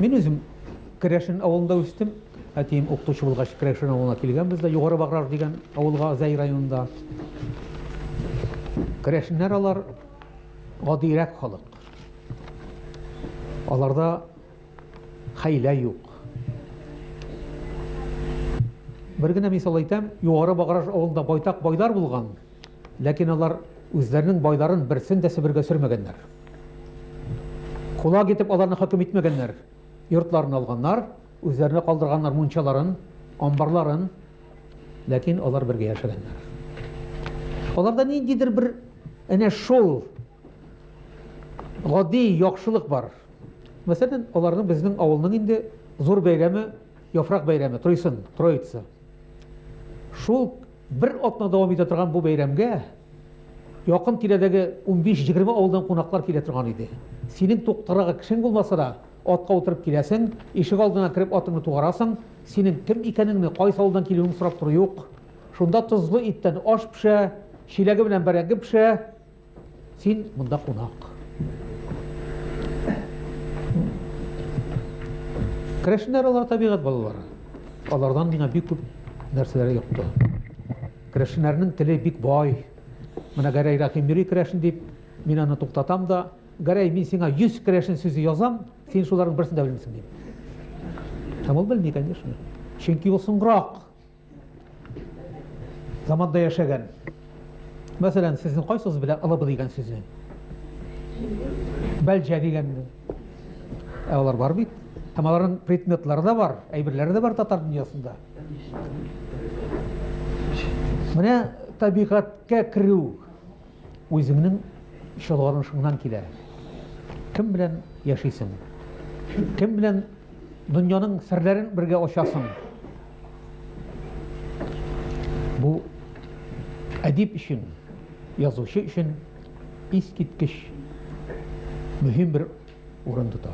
Мин үзем Керәшен авылында үстем. Әтием укытучы булгач, Керәшен авылына килгәнбез дә, Югары Баграж дигән авылга Зәй районында. Керәшеннәр алар гадирәк халык. Аларда хәйлә юк. Бер генә мисал әйтәм, Югары Баграж авылында байтак байлар булган, Ләкин алар үзләренең байларын берсен дә Себергә сөрмәгәннәр. Кулак итеп аларны хөкем итмәгәннәр. Йортларын алганнар, үзләренә калдырганнар мунчаларын, амбарларын, ләкин алар бергә яшәгәннәр. Аларда ниндидер бер әнә шул гади яхшылык бар. Мәсәлән, аларның безнең авылның инде зур бәйрәме, яфрак бәйрәме, Тройсын, Троица. Шул бер атна дәвам итә торган бу бәйрәмгә якын тирәдәге унбиш-егерме авылдан кунаклар килә торган иде. Синең туктарга кешең булмаса да, атка утырып киләсең, ишек алдына кереп атыңны тугарасың, синең кем икәнеңне, кайсы авылдан килүеңне сорап тору юк. Шунда тозлы иттән аш пешә, чиләге белән бәрәңге пешә. Син монда кунак. Керәшеннәр алар табигать балалары. Алардан миңа бик күп нәрсәләр йокты. Керәшеннәрнең теле бик бай. Менә Гәрәй Рәхим йөри керәшен дип, мин аны туктатам да, Гәрәй, мин сиңа 100 керәшен сүзе язам, син шуларның берсен дә белмисең, дим. Һәм ул белми, конечно. Чөнки ул соңрак Заманда яшәгән. Мәсәлән, сезнең кайсыгыз белә ылыбы дигән сүзне? Бәлҗә дигәнне. Ә алар бар бит. Һәм аларның предметлары да бар, әйберләре дә бар татар дөньясында. Менә табигатькә керү Үзеңнең чолганышыңнан килә. Кем белән яшисең? Кем белән дөньяның серләрен бергә ачасың? Бу әдип өчен, язучы өчен искиткеч мөһим бер урын тота.